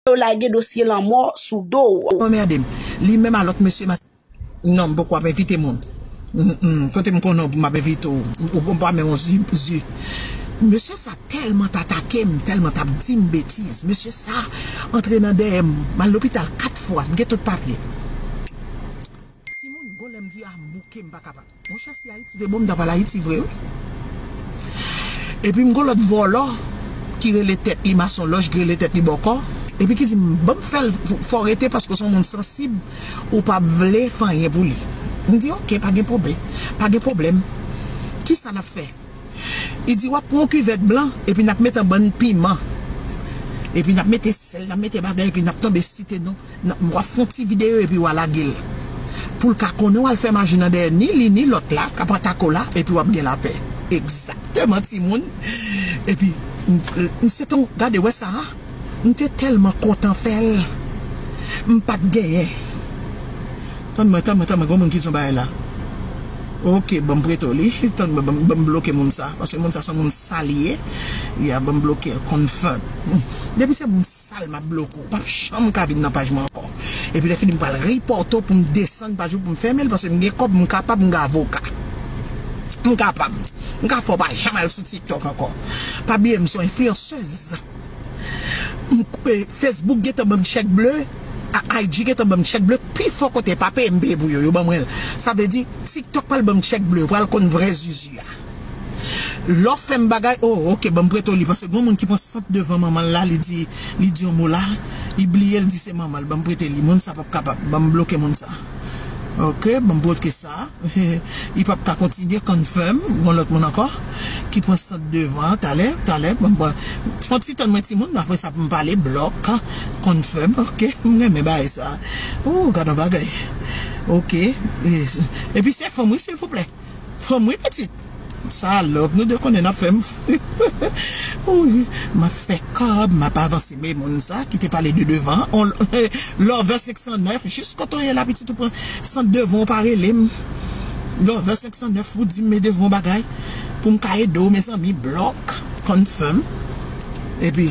yo lage dosye lanmò sou do w. Ou anmerde m. Li menm a lòt mesye ma. Non m poko ap envite moun. Humm kote m konnen w pou m ap envite w. Ou bon pa men w zu zu. Mesye sa tèlman t atake m, tèlman t ap di m betiz. Mesye sa antre nan dèyè m. M al lopital 4 fwa. M gen tout papye. Timoun gon lè m di a m bouke m pa kapab. Monchè si ayiti te bon m ta pral ayiti vre wi epim gon lòt vòlò ki rele tèt li mason lòj ki rele tèt li bòkò epi ki dim banm fèl fòw rete paske w son moun sansib ou pap vle fè anyen pou li m di ok pa gen pwoblè pa gen pwoblèm kisa nap fè li di wap pran yon kivèt blan epi nap met anbann piman epi nap mete sèl nap mete bagay epi nap tanbe site non Nan wap fon ti video epi wa lagel poul ka konnen wal fè maji nan dèyè ni li ni lòt la kap atako la epi wap gen lapè egzakteman timoun epi m se ton gade wè sa m te tèlman kontan fèl m pat genyen tann mwen tann mwen tann mwen gon moun ki di yon bagay la ok banm preto li tann mwen banm bloke moun sa paske moun sa son moun sal ye ya banm blokel confirm depi se moun sal map bloke w. pap janm ka vin nan paj mwen ankò epi lè fini m pral report ou pou m desann paj ou pou m fèmen l paske m gen kòb m kapab m gen avoka m kapab m ka fè w pa janm al sou tiktok ankò pa bliye m se yon influenceuse m facebook gentan ban m chèk ble IG gentan ban m chèk ble pi fò kote pa peye m peye pou yo yo ban mwen l sa vle di tiktok pral ban m chèk ble yo pral konn vrè zuzu a. Lò fèm bagay oh ok banm preto li paske gon moun ki pran sant devan manmanl la li di li di yon mo la li bliye li di se manmanl banm prete li moun sa pap kapab banm bloke moun sa ok banm broke sa li pap ka kontinye confirm gon lòt moun ankò ki pran sant devan talè talè banm pran yon ti tann mwen ti moun aprè sa poum pale block confirm ok m renmen bagay sa ooh gadon bagay ok epi se fanm wi silvouplè. Fanm wi pitit sa love nou 2 konnen nap fèm fou wi map fè kob map avanse me moun sa ki te pale de devan an love 509 jis kote w ye la pitit ou pran sant devan w pa relem love 509 pou dim me devan w bagay poum ka edew mezanmi blòk confirm epi.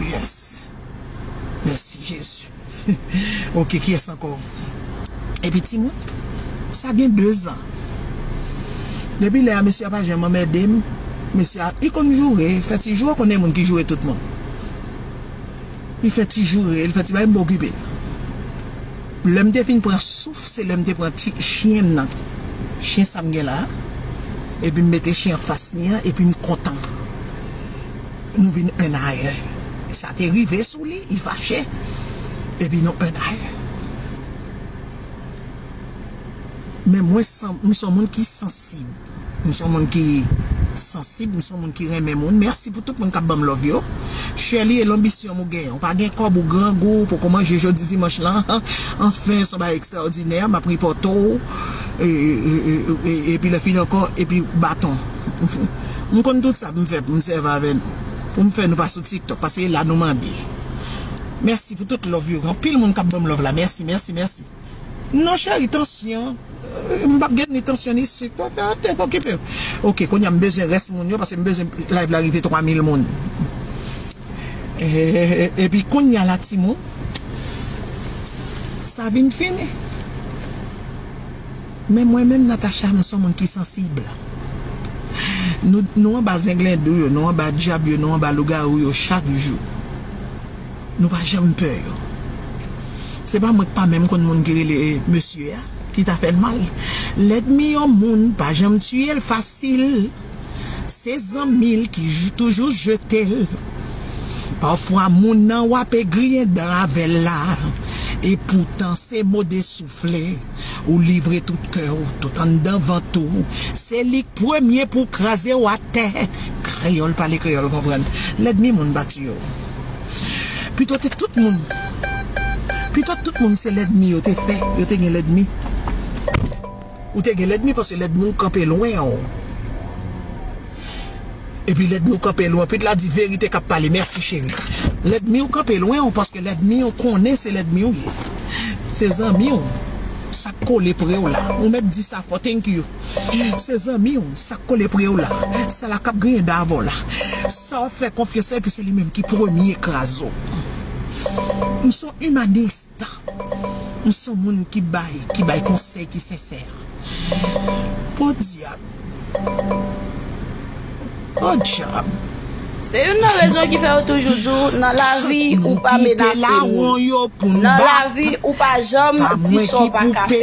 Yes Mèsi Jezi Ok kiyès ankò Epi timoun sa gen 2 zan Depi lè a mesye a pa janm anmède m Mesye a li konn joure fè ti joure ou konn gen moun ki joure tout moun Li fè ti joure li fè ti bagay m pa okipe l Lè m te fin pran souf se lè m te pran ti chyen m nan Chyen sa m gen la a Epi m mete chyen an fas li an epi m kontan. Nou vin un aer. Sa te rive sou li, li fache, epi nou un aer. Men mwen san, m son moun ki sansib. M son moun ki sansib, m son moun ki renmen moun. Mèsi pou tout moun k ap ban m love yo. Sherlie e lonbisyon m ou gen, ou pa gen kòb, ou grangou, ou poko manje jodi dimanch lan, anfen son bagay ekstraòdinè, m ap ripòte w, epi lè fini ankò, epi baton. M konn tout sa pou m fè pou m sèvi avè nou pou m fè nou pa sou tiktok paske e la nou mande mèsi pou tout love yo gen anpil moun kap banm love la mèsi mèsi mèsi non cheri tansyon m pap gen ni tansyon ni sik ok ok okipe w ok kounya m bezwen rès moun yo paske m bezwen live la rive 3000 moun eeeeh epi kounya la timoun sa vin fini. Men mwen menm Natacha m son moun ki sansib Nou nou anba zenglendou yo nou anba dyab yo nou anba lougarou yo chak jou Nou pa janm pè yo Se pa mwen k pa menm konn moun ki rele mesye a ki ta fèl mal Lèdmi yon moun pa janm tiye l fasil Se zanmi l ki toujou jete l Pafwa moun nan w ape griyen dan avè l la Epoutan se mo de sou. vle ou livre tout kè ou tout anndan vant ou se lik premye pou kraze ou atè kreyòl pale kreyòl konprann lèdmi moun bat yo pito te tout moun pito tout moun se lèdmi yo te fè yo te gen lèdmi ou te gen lèdmi paske lèdmi ou kanpe lwen ou. Epi lèdmi w kanpe lwen pit la di verite kap pale mèsi cheri lèdmi w kanpe lwen w paske lèdmi w konnen se lèdmi w ye se zanmi w sak kole pre w la ou mèt di sa fò thank you se zanmi w sak kole pre w la sa la kap griyen dan avè w la sa wap fè konfyans la epi se li menm ki premye kraze w m son imanist m son moun ki bay ki bay konsèy ki sensè podyab. Good job. Se youn nan rezon ki fè yo toujou di w nan lavi ou pa menase moun. Nan lavi ou pa janm di sa w pa ka fè.